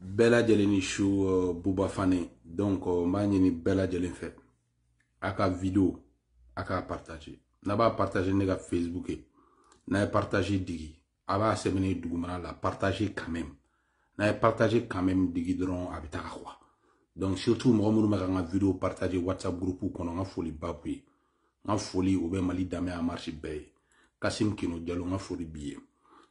bɛɛ lajɛlen ni su uh, buba fane donc uh, n b'a ɲini bɛɛ lajɛlen fɛ a ka video a k'a partage n'a b'a partage ne ka facebook ye n'a ye partage digi a b'a sɛbɛnne dugumana la partage quand même n'a ye partage quand même digi dɔrɔn a bɛ taga quoi donc surtout mɔgɔ minnu bɛ ka n ka video partage whatsapp groupe kɔnɔ n ka foli ba b'u ye n ka foli o bɛ mali danbe en marche bɛɛ ye kasim kino jalo n ka foli b'i ye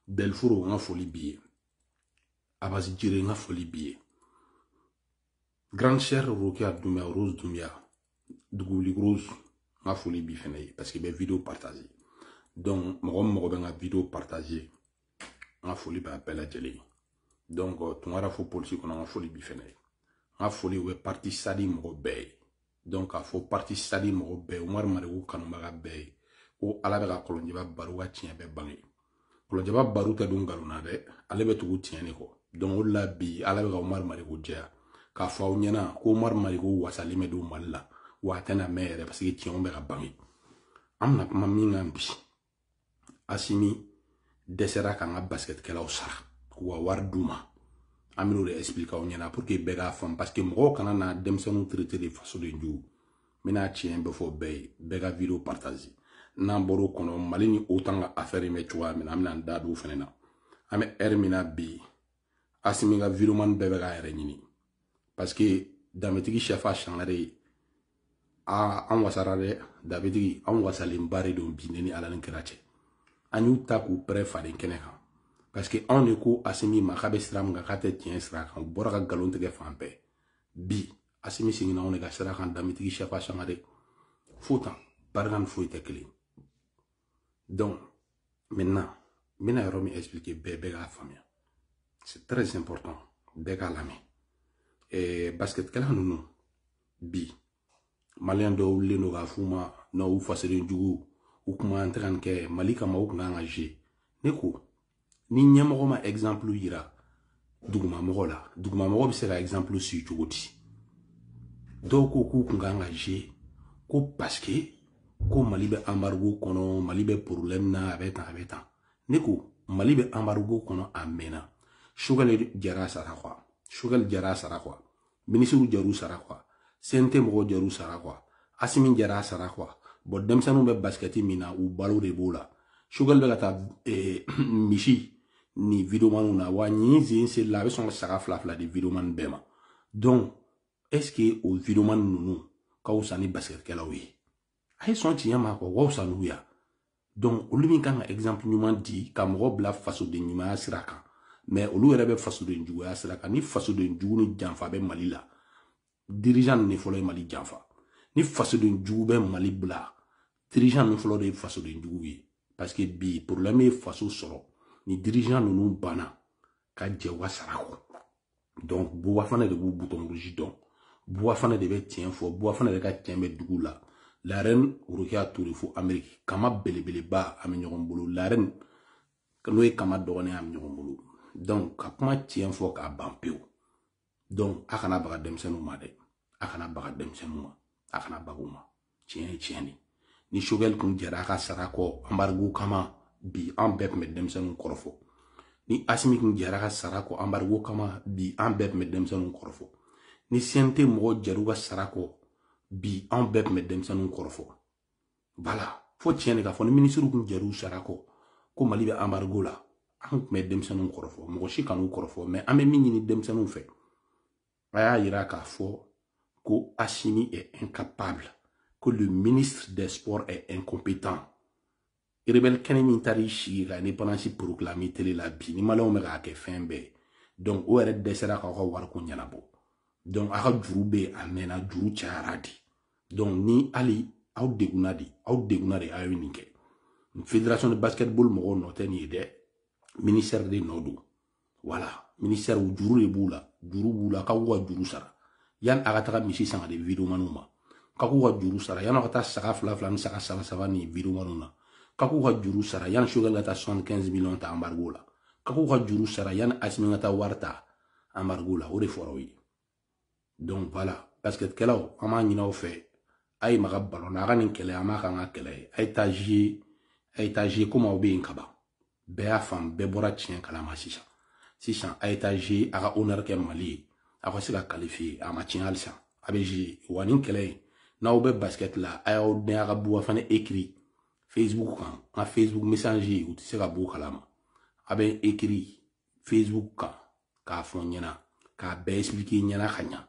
delforo n ka foli b'i ye abasi jere n ka foli b'i ye grande sœur rokia dumia rose dumia duguli rose n ka foli b'i fɛnɛ ye parce que i bɛ video partage donc mɔgɔ o mɔgɔ bɛ n ka video partage n ka foli b'a bɛɛ lajɛlen ye donc tunkara fo polisi kɔnɔ n ka foli b'i fɛnɛ ye n ka foli o bɛ parti sadi mɔgɔ bɛɛ ye donc k'a fɔ parti sadi mɔgɔ bɛɛ umaru mariko kanubaga bɛɛ ye ko ala bɛ ka kɔlɔnjɛba baru ka tiɲɛ bɛɛ bange kɔlɔnjɛba baru tɛ don nkalon na dɛ ale bɛ tugu tiɲɛ de kɔ donc o de la bi ala bɛ ka umaru mariko jɛya k'a fɔ aw ɲɛna ko umaru mariko wasalen bɛ don mali la wa a tɛna mɛn yɛrɛ paseke tiɲɛw bɛ ka bange an bɛna kuma min kan bi asimi dɛsɛra k'an ka basikɛtikɛlaw sara k'u ka wari d'u ma an bɛn'o de explique aw ɲɛna pour que bɛɛ k'a faamu parce que mɔgɔw kana na denmisɛnninw traité de fasoden jugu n bɛna tiɲɛ bɛɛ fɔ bɛɛ ye bɛɛ ka video partage n'an bɔr'o kɔnɔ mali ni otan ka affaire in bɛ cogoya min na an bɛna an da don o fana na an bɛ ɛri min na bi asimi ka videomani bɛɛ bɛ k'a yɛrɛ ɲini parce que danbetigi sɛfa sangare ye aa an wasara dɛ danbetigi an wasalenba de don bi ne ni ala ni kira cɛ an y'u ta k'u pɛrɛ faden kɛnɛ kan parce que anw de ko asimi ma k'a bɛ sira min kan k'a tɛ tiɲɛ sira kan u bɔra ka nkalon tigɛ fan bɛɛ bi asimi seginna anw de ka sira kan danbetigi sɛfa sangare fo tan barika ni foyi tɛ kelen donc maintenant n bɛna yɔrɔ min expliquer bɛɛ bɛɛ k'a faamuya c'est très important bɛɛ k'a lamɛn ɛɛ basketkɛla ninnu bi maliyɛn dɔw wulilen don k'a f'u ma n'u fasoden jugu u kuma an tɛ ka nin kɛ mali kama u kun kan ka je ne ko ni ɲɛmɔgɔ ma exemple yira dugumamɔgɔ la dugumamɔgɔ bɛ se ka exemple suivre cogo di dɔw ko k'u kun kan ka je ko parce que ko mali bɛ embargo kɔnɔ mali bɛ problème na a bɛ tan a bɛ tan ne ko mali bɛ embargo kɔnɔ a mɛnna sogɛli jar'a sara kɔ wa sogɛli jar'a sara kɔ wa minisiriw jar'u sara kɔ wa cnt mɔgɔw jar'u sara kɔ wa asimi jara a sara kɔ wa bon denmisɛnninw bɛ basikɛti min na u balo de b'o la sogɛli bɛ ka taa eh, misi ni videomaniw na wa nin sen seli la a bɛ sɔn ka saga fila fila di videomani bɛɛ ma donc est ce que o videomani ninnu ka wusa ni basikɛtikɛlaw ye a ye sɔn tiɲɛ ma quoi u ka wusa n'u ye wa donc olu min kan ka exemple ɲuman di ka mɔgɔ bila fasoden ɲumanya sira kan mais olu yɛrɛ bɛ fasoden juguya sira kan ni fasoden jugu ni janfa bɛ mali la dirigeant ninnu fɔlɔ ye mali janfa ni fasoden jugu bɛ mali bila dirigeant ninnu fɔlɔ de ye fasoden jugu ye parce que bi problème ye faso sɔrɔ ni dirigeant ninnu banna ka jɛ u ka sara kɔ donc buba fane de b'u bouton rouge dɔn buba fane de bɛ tiɲɛ fɔ buba fane de ka tiɲɛ bɛ dugu la la reine rokia toure fo amérique kama belebeleba an bɛ ɲɔgɔn bolo la reine n'o ye kama dɔgɔnin an bɛ ɲɔgɔn bolo donc ka kuma tiɲɛ fɔ k'a ban pewu donc a kana baga denmisɛnninw ma dɛ a kana baga denmisɛnninw ma a kana baga u ma tiɲɛ ye tiɲɛ de ni sogɛli tun jɛra a ka sara kɔ anbarigo kama bi an bɛɛ tun bɛ denmisɛnninw kɔrɔfɔ ni asimi tun jɛra ka sara kɔ anbarigo kama bi an bɛɛ tun bɛ denmisɛnninw kɔrɔfɔ ni cnt mɔgɔ jɛr'u ka sara kɔ bi an bɛɛ tun bɛ denmisɛnninw kɔrɔfɔ bala fo tiɲɛ de ka fɔ ni minisiriw tun jɛr'u sara kɔ ko mali bɛ anbarigo la an tun bɛ denmisɛnninw kɔrɔfɔ mɔgɔ si kan'u kɔrɔfɔ mais an bɛ min ɲini denmisɛnninw fɛ a y'a yira k'a fɔ ko Assimi est incapable ko le ministre des sports est incompétent rebelle kɛnin min taara i sigi ka indépendance proclamer télé la bi ni maliyɛnw bɛ k'a kɛ fɛn bɛɛ donc o yɛrɛ dɛsɛra k'aw ka wariko ɲɛnabɔ donc aw ka juru bɛ yen a mɛnna juru cayara de donc ni hali aw degunna de aw degunna de aw ye nin kɛ fédération de basketball mɔgɔw nɔ tɛ nin ye dɛ ministère de nɔ don wala ministère juru de b'u la juru b'u la k'a k'u ka juru sara yanni a ka taga misi san ka di vidéomanw ma k'a k'u ka juru sara yanni a ka taa saga fila fila ni saga saba saba di vidéomanw ma k'a k'u ka juru sara yanni sokɛli ka taa soixante quinze millions ta anbarigo la k'a k'u ka juru sara yanni asimi ka taa wari ta anbarigo la o de fɔra o ye donc voilà basketkɛlaw an b'a ɲini aw fɛ a ye maga balon na a ka nin kɛlɛ an b'a k'an ka kɛlɛ ye a ye taa jouer a ye taa jouer komi aw bɛ yen kaban bɛɛ y'a faamu bɛɛ bɔra tiɲɛ kalama sisan sisan a ye taa jouer a ka honneur kɛ mali ye aw ka se ka qualifier a ma tiɲɛ halisa a bɛ jouer wa nin kɛlɛ in n'aw bɛ basket la a y'aw dɛn a ka buba fane écrit facebook kan n ka facebook message u tɛ se ka b'o kalama a bɛ écrit facebook kan k'a fɔ n ɲɛna k'a bɛɛ expliquer n ɲɛna ka ɲa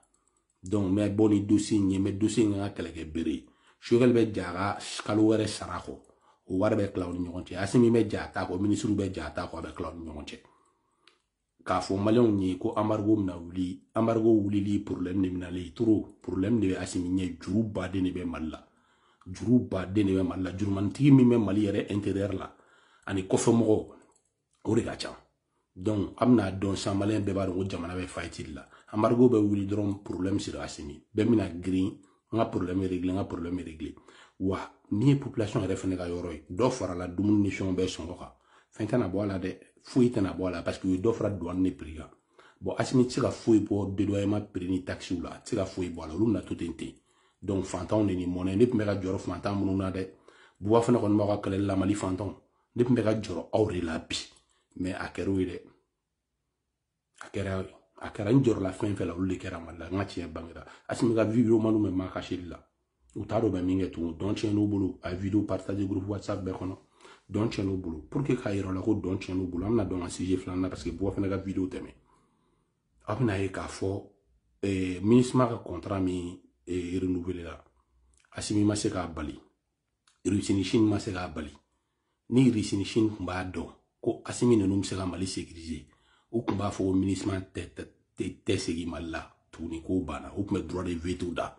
donc n bɛ bɔ ni dossier in ye n bɛ dossier in ka kɛlɛ kɛ bere ye sokɛli bɛ j'a ka kalo wɔɔrɔ sara kɔ o wari bɛ tila u ni ɲɔgɔn cɛ asimi bɛ j'a ta kɔ minisiriw bɛ j'a ta kɔ a bɛ tila u ni ɲɔgɔn cɛ k'a fɔ maliyɛnw ye ko anbarigo bɛna wuli anbarigo wulili problème de bɛna ale yɛrɛ tɔɔrɔ problème de bɛ asimi ɲɛ juruba de bɛ mali la juruba de bɛ mali la jurumanitigi min bɛ mali yɛrɛ intérieur la ani kɔfɛmɔgɔw o de ka ca donc an bɛna dɔn san maliyɛn bɛɛ b'a dɔn ko jamana bɛ faillite de la anbarigo bɛ wuli dɔrɔn problème sera asimi bɛɛ bɛna girin n ka problème réglé n ka problème réglé wa n'i ye population yɛrɛ fɛnɛ ka yɔrɔ ye dɔ farala dumuni ni fɛnw bɛɛ sɔngɔ kan fɛn tɛna bɔ a la dɛ foyi tɛna bɔ a la parce que u ye dɔ fara douane ni prix kan bon asimi tɛ se ka foyi bɔ dédouanement prix ni taxes la a tɛ se ka foyi bɔ a la olu bɛna to ten ten donc fantanw de ni mɔnɛ ne tun bɛ ka jɔrɔ fantan ninnu na dɛ buba fane kɔni b'aw ka kɛlɛli la mali fantanw ne tun bɛ ka jɔrɔ aw de la bi mais a kɛra o ye dɛ a kɛra a kɛra n jɔrɔla fɛn fɛn la olu de kɛra mali la nka tiɲɛ bangera asimi ka videomanw bɛ makasili la u t'a dɔn u bɛ min kɛ tugun dɔn tiɲɛn'u bolo a ye video partage groupe whatsapp bɛɛ kɔnɔ dɔn tiɲɛn'u bolo pour que k'a yira aw la ko dɔn tiɲɛn'u bolo an bɛna don an ka sujet filanan na parce que buba fane ka video tɛmɛ aw bɛna a ye k'a fɔ eh, minisima ka kɔntara min eh, renouveler la asimi ma se k'a bali russie ni chine ma se k'a bali ni russie ni chine tun b'a dɔn ko asimi ninnu bɛ se ka mali sekirize u tun b'a fɔ ko minisima tɛ segin mali la tuguni k'o banna u tun bɛ droit de veto da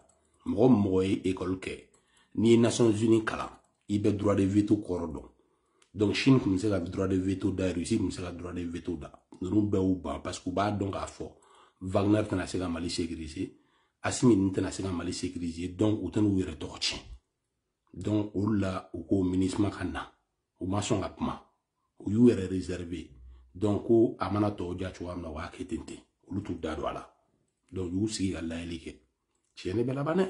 mɔgɔ o mɔgɔ ye ekɔli kɛ n'i ye nations unies kalan i bɛ droit de veto kɔrɔ dɔn donc chine tun bɛ se ka droit de veto da russie tun bɛ se ka droit de veto da ninnu bɛɛ y'u ban parce que u b'a dɔn k'a fɔ wagner tɛna se ka mali sekirize asimi ninnu tɛna se ka mali sekirize donc u tɛna u yɛrɛ tɔgɔ tiɲɛ donc olu la u ko minisma ka na u ma sɔn ka kuma u y'u yɛrɛ réserve donc ko a mana tɔw diya cogoya min na u b'a kɛ ten ten olu t'u da don a la donc u y'u sigi ka lajɛli kɛ tiɲɛ de bɛ laban dɛ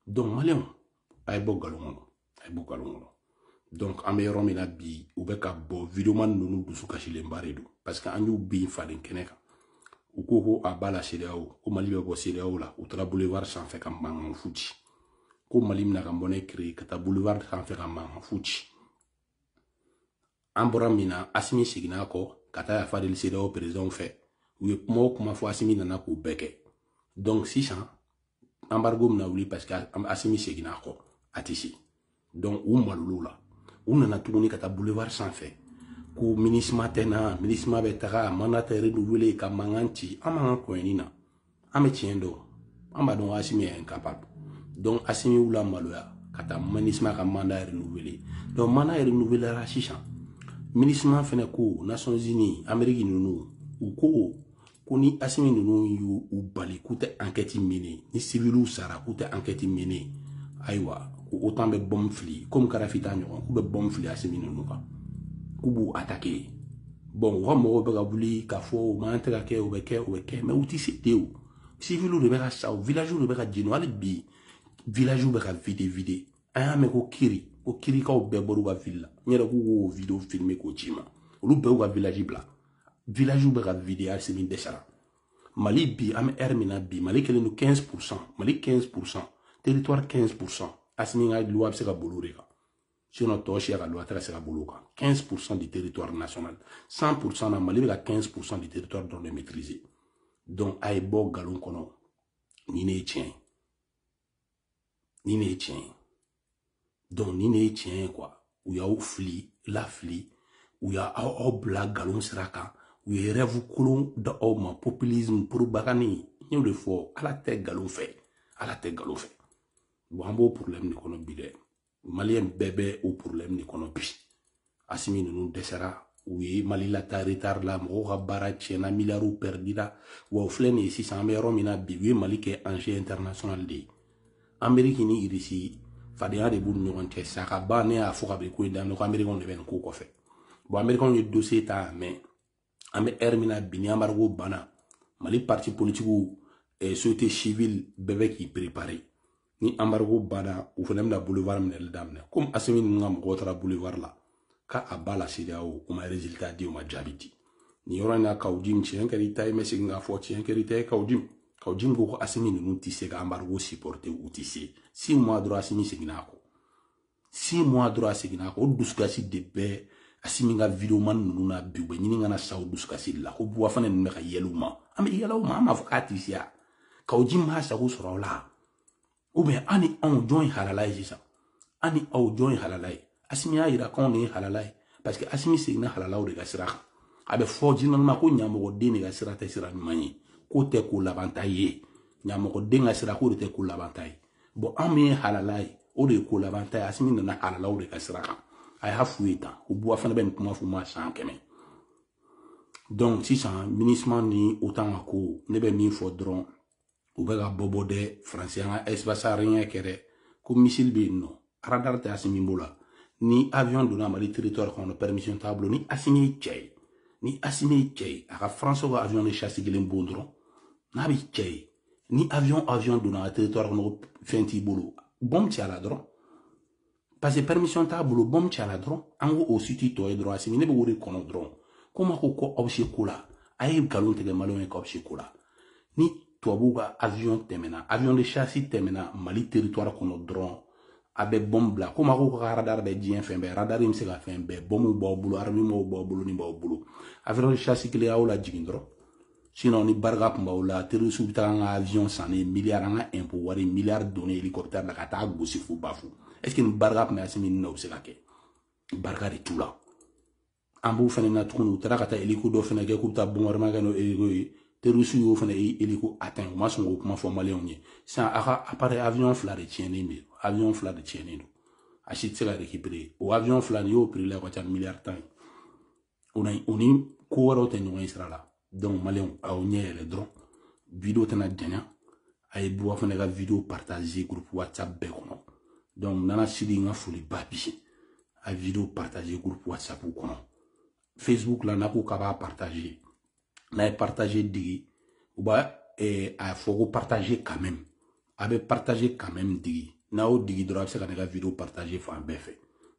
donc maliyɛnw a ye bɔ nkalon kɔnɔ a ye bɔ nkalon kɔnɔ donc an bɛ yɔrɔ min na bi u bɛ ka bɔ videoman ninnu dusu kasilenba de don parce que an y'u bin falen kɛnɛ kan u ko ko à bas la cedeao ko mali bɛ bɔ cedeao la u taara boulevard sanfɛ ka mankan fu ci ko mali bɛna a ka monnaie créer ka taa boulevard sanfɛ ka mankan fu ci an bɔra min na asimi seginna kɔ ka taa yafa deli cedeao peresidanw fɛ u ye kuma o kuma fɔ asimi nana k'u bɛɛ kɛ donc sisan anbarigo mina wuli parce que asimi seginna kɔ a tɛ se donc u maloyala u nana tuguni ka taa boulevard sanfɛ ko minisima tɛ na minisima bɛ taga a manda tɛ renouveler ka mankan ci an man kan kɔɲɔni na an bɛ tiɲɛ dɔn an b'a dɔn asimi ye incapable donc asimi y'u lamaloya ka taa minisma ka manda renouveler donc manda renouveler la sisan minisma fɛnɛ ko nations unies ameriki ninnu u ko ko ni asimi ninnu y'u bali k'u tɛ enquête mener ni siviliw sara k'u tɛ enquête mener ayiwa ko otan bɛ bɔmu fili komi kadafi ta ɲɔgɔn k'u bɛ bɔmu fili asimi ninnu kan k'u b'u attaquer bɔn u ka mɔgɔw bɛ ka wuli k'a fɔ u man tɛ ka kɛ u bɛ kɛ u bɛ kɛ mɛ u tɛ se te o siviliw de bɛ ka sa o vilaziw de bɛ ka jeni hali bi vilaziw bɛ ka vide vide an y'a mɛn ko kiri ko kirikaw bɛɛ bɔr'u ka vili la n yɛrɛ k'u k'o video filme k'o ci n ma olu bɛɛ y'u ka vilazi bila vilaziw bɛ ka vide asimi dɛsɛra mali bi an bɛ ɛri min na bi mali kɛlen don 15 pourcent mali 15 pourcent territoire 15 pourcent asimi ka luwa bɛ se ka boli o de kan sinon tɔ si a ka luwa tɛ ka se ka boli o kan 15 pourcent du territoire national 100 pourcent na mali bɛ ka 15 pourcent du territoire dɔrɔn de maîtriser donc a ye bɔ nkalon kɔnɔ nin de ye tiɲɛ ye nin de ye tiɲɛ ye donc nin de ye tiɲɛ ye quoi u y'aw fili lafili u y'a aw aw bila nkalon sira kan u ye rêve kolon da aw ma populisme propagande n y'o de fɔ ala tɛ nkalon fɛ ala tɛ nkalon fɛ bon an b'o problème de kɔnɔ bi dɛ maliyɛn bɛɛ bɛ o porobilɛmu de kɔnɔ bi asimi ninnu dɛsɛra u ye mali lataa retari la mɔgɔw ka baara tiɲɛna miliyariw pɛridira wa o filɛ nin ye sisan an bɛ yɔrɔ min na bi u ye mali kɛ enjeu international de ye ameriki ni irisi fadenya de b'u ni ɲɔgɔn cɛ sa ka ban ne y'a fɔ kabini ko in daminɛ ko amerikɛnw de bɛ nin ko kɔfɛ bɔn amerikɛnw ye dosiye ta mɛ an bɛ ɛri min na bi ni anbarigo banna mali parti politikiw eh, société civile bɛɛ bɛ k'i prepare ni anbarigo banna u fana bɛna boulevard minɛli daminɛ komi asimi ninnu ka mɔgɔw taara boulevard la ko à bas la sedeyawo o ma résultat di o ma jaabi di nin yɔrɔ in na kawu jim tiɲɛ kɛra i ta ye n bɛ segin k'a fɔ tiɲɛ kɛra i ta ye kawu jim kawu jim ko ko asimi ninnu tɛ se ka anbarigo supporter u tɛ se six mois dɔrɔn asimi seginna a kɔ six mois dɔrɔn a seginna o dusukasi de bɛ asimi ka videomani ninnu na bi u bɛ ɲini ka na sa o dusukasi de la ko buba fane ninnu bɛ ka yɛlɛ u ma an bɛ yɛlɛ u ma an b'a fɔ k'a tɛ se a kawu jim m'a sago sɔrɔ o la ou bien an ni aw jɔn ye halala ye sisan an ni aw jɔn ye halala ye asimi y'a yira k'anw de ye halala ye parce que asimi seginna halalaw de ka sira kan a bɛ fɔ jinɔnima ko ɲamɔgɔden de ka sira tɛ sira ɲuman ye k'o tɛ ko labanta ye ɲamɔgɔden ka sira k'o de tɛ ko labanta ye bɔn an min ye halala ye o de ye ko laban ta ye asimi nana halalaw de ka sira kan a y'a f'u ye tan ko buba fane bɛ nin kuma f'u ma san kɛmɛ donc sisan minusma ni otan ka ko ne bɛ min fɔ dɔrɔn u bɛ ka bɔbɔ dɛ faransi an ka espace aérien kɛ dɛ ko misili bɛ yen non radar tɛ asimi bolo ni avion donna mali territoire kɔnɔ permission t'a bolo ni asimi ye cɛ ye ni asimi ye cɛ ye a ka faransiw ka avion de chasse kelen bon dɔrɔn n'a bɛ cɛ ye ni avion avion donna territoire kɔnɔ ko fɛn t'i bolo bɔn ci a la dɔrɔn parce que permission t'a bolo bɔn ci a la dɔrɔn an ko o si t'i tɔ ye dɔrɔn a sigilen bɛ wari kɔnɔ dɔrɔn ko ma ko ko aw se ko la a ye nkalon tigɛ maliyɛnw ye k'aw se ko la ni tubabuw ka avion tɛmɛna avion de chasse tɛmɛna mali territoire kɔnɔ dɔrɔn a bɛ bɔn bila ko ma ko ka radar bɛ diɲɛ fɛn bɛɛ radar in bɛ se ka fɛn bɛɛ bɔnw b'aw bolo armementw b'aw bolo ni b'aw bolo avion de chasse kelen y'aw lajigin dɔrɔn sinon ni barika tun b'aw la terrorisiw bɛ taa an ka avion san ni miliyari an ka impôt wari miliyari don ni hélicoptère la ka taa gosi fo bafo est ce que ni barika tun bɛ Asimi ninnu na o bɛ se ka kɛ barika de t'u la an b'u fana na tuguni u taara ka taa hélico dɔ fana kɛ k'u bɛ taa bombardement kɛ n'o hélico ye terrorisiw y'o fana hélico atteint u ma sɔn k'o kuma fɔ maliyɛnw ye sisan a ka appareil avion fila de tiɲɛnen bɛ avion fila de tiɲɛnen don a si tɛ se ka récupérer o avion fila nin y'o prix la ka ca miliyari tan ye o na o ni ko wɛrɛw tɛ ɲɔgɔn ye sira la donc maliyɛnw aw ɲɛ yɛlɛ dɔrɔn video tɛna janya a ye buwa fana ka video partage groupe whatsapp bɛɛ kɔnɔ donc nana sidi n ka foli ba bi a video partage groupe whatsapp kɔnɔ facebook la n'a ko k'a b'a partage n'a ye partage digi u b'a eh, a fɔ ko partage quand même a bɛ partage quand même digi n'a y'o digi dɔrɔn a bɛ se ka ne ka video partage fan bɛɛ fɛ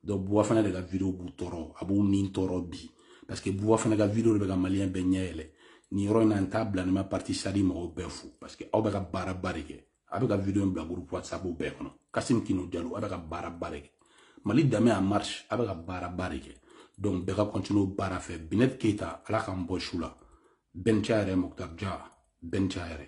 donc buwa fana de ka video b'u tɔɔrɔ a b'u ni tɔɔrɔ bi parce que buwa fana ka video de bɛ ka maliyɛn bɛɛ ɲɛ yɛlɛ nin yɔrɔ in na n t'a bila ni n ma parti sadi mɔgɔw bɛɛ fo parce que aw bɛ ka baaraba de kɛ a bɛ ka video in bila groupe whatsapp bɛɛ kɔnɔ kasim kinu jalo a bɛ ka baaraba de kɛ mali danbe en marche a bɛ ka baaraba de kɛ donc bɛɛ ka continue baara fɛ binet keyita ala k'an bɔ su la bɛnca yɛrɛ muktar ja bɛnca yɛrɛ